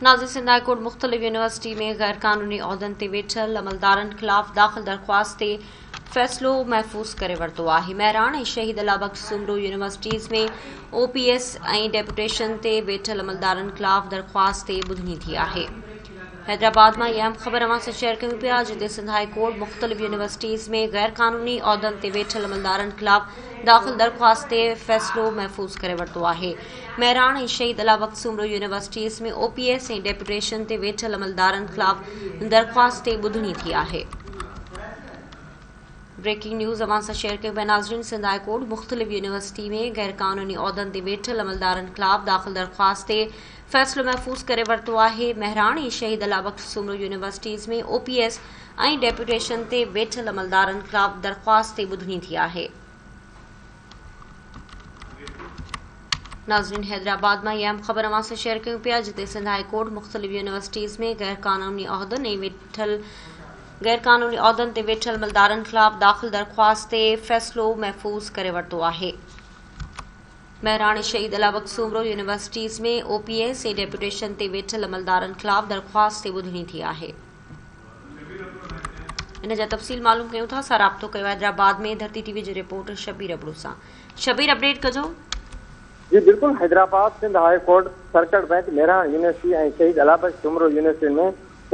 نازي Sindh high court مختلف university ۾ غير قانوني عهدن تي ويٺل عملدارن خلاف داخل درخواست تي فيصلو محفوظ ڪري ورتو آهي. مهراڻ ۽ شهيد الله بخش سومرو يونيورسٽيز ۾ او پي ايس ۽ ڊيپوٽيشن تي ويٺل عملدارن خلاف درخواست تي ٻڌڻي ٿي آهي. حيدرآباد مان اهم خبر اوهان سان شيئر ڪيون پيا جتي سنڌ هاء ڪورٽ مختلف يونيورسٽيز ۾ غير قانوني عهدن تي ويٺل عملدارن خلاف داخل درخواست تي فيصلو محفوظ ڪري ورتو آهي. مهراڻ ۽ شهيد علي وقت سومرو يونيورسٽيز ۾ او پي ايس ۽ ڊيپوٽيشن تي ويٺل عملدارن خلاف درخواست تي ٻڌڻي ٿي آهي. بريڪنگ نيوز اوهان سان شيئر ڪيون پيا ناظرين سنڌ هاء ڪورٽ مختلف يونيورسٽي ۾ غيرقانوني عهدن تي ويٺل عملدارن خلاف داخل درخواست تي فيصلو محفوظ ڪري ورتو آهي مهراڻ ۽ شهيد الا بخش سومرو يونيورسٽيز ۾ او پي ايس ۽ ڊيپوٽيشن تي ويٺل عملدارن خلاف درخواست تي ٻڌڻي ٿي آهي ناظرين حيدرآباد مان اها اهم خبر اوهان سان شيئر ڪيون پيا جتي سنڌ هاء ڪورٽ مختلف يونيورسٽيز ۾ غير قانوني عهدن ۽ ويٺل غير قانوني عهدن تي ويٺل ملدارن خلاف داخل درخواست تي فيصلو محفوظ ڪري ورتو آهي مهراڻ شهيد علاوق سومرو يونيورسٽيز ۾ او پي ايس ۽ ڊيپوٽيشن تي ويٺل عملدارن خلاف درخواست تي ٻڌڻي ٿي آهي ان جا تفصيل معلوم ڪيون ٿا، اسان رابطو ڪيو حيدرآباد ۾ ڌرتي ٽي وي جي رپورٽر شبير ابڙو سان، شبير اپڊيٽ ڪجو. جي بلڪل Hyderabad Sindh high court circuit bench Mehran university ۽ Shaheed Allah Bux Soomro يونيورسٽين ۾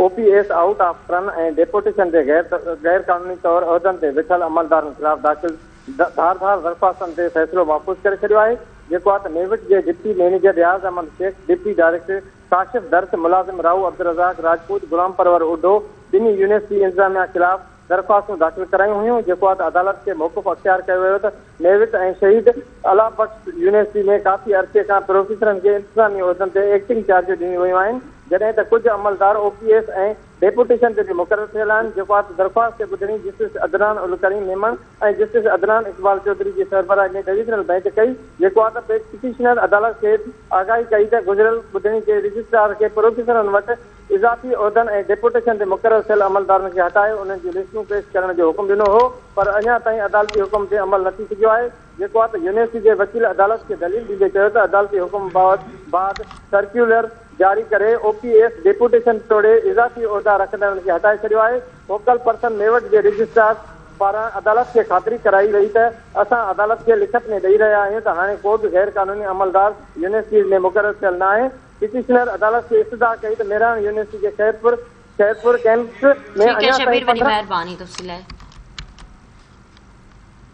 او P S out of turn ۽ deputation تي غير قانوني طور عهدن تي ويٺل عملدارن خلاف داخل ڌار ڌار درخواستن تي فيصلو محفوظ ڪري ڇڏيو آهي جيڪو آ ته نيوٽ جي deputy manager Riaz Ahmed Shaikh deputy director Kashif Dars, ملازم راهو عبدالرزاق راجپوت، غلام پرور اوڍو ٻنهي يونيورسٽي انتظاميا خلاف درخواستون داخل ڪرايون هيون جيڪو آد عدالت کي موقف اختيار ڪيو ويو ته نيوٽ ۽ شهيد الله بخش يونيورسٽي ۾ ڪافي عرصي کان پروفيسرن کي انتظامي عهدن تي ايڪٽنگ چارجون ڏنيون ويون آهن جڏهن ته ڪجهه عملدار او پي ايس ۽ ڊيپوٽيشن جي مقرر ٿيل آهن جيڪو آت درخواست کي ٻڌڻي جسٽس عدنان الڪريم ميمڻ ۽ جسٽس عدنان اقبال چوڌري جي سربراهي ۾ ڊويزنل بئنچ ڪئي جيڪو آت پٽيشنر عدالت کي آگاهي ڪئي ته گذريل ٻڌڻي تي رجسٽرار کي پروفيسرن وٽ اضافي عهدن ۽ ڊيپوٽيشن تي مقرر ٿيل عملدارن کي هٽائي انهن جون لسٽون پيش ڪرڻ جو حڪم ڏنو هو پر اڃا تائين عدالتي حڪم تي عمل نه ٿي سگهيو آهي. جيڪو آهي ته يونيورسٽي جي وڪيل عدالت کي دليل ڏيندي چيو ته عدالتي حڪم بعد سرڪيولر جاري ڪري او پي ايس ڊيپوٽيشن ٽوڙي اضافي عهدا رکندڙن کي هٽائي ڇڏيو آهي فوڪل پرسن ميوٽ جي رجسٽرار پاران عدالت کي خاطري ڪرائي وئي ته اسان عدالت کي لکت ۾ ڏئي رهيا آهيون ته هاڻي ڪو به غير قانوني عملدار يونيورسٽيز ۾ مقرر ٿيل ناهي پٽيشنر عدالت کي استدعا ڪئي ته مهراڻ يونيورسٽي جي خيرپور خيرپور ڪيمپس ۾ اڃا تائين پندرهن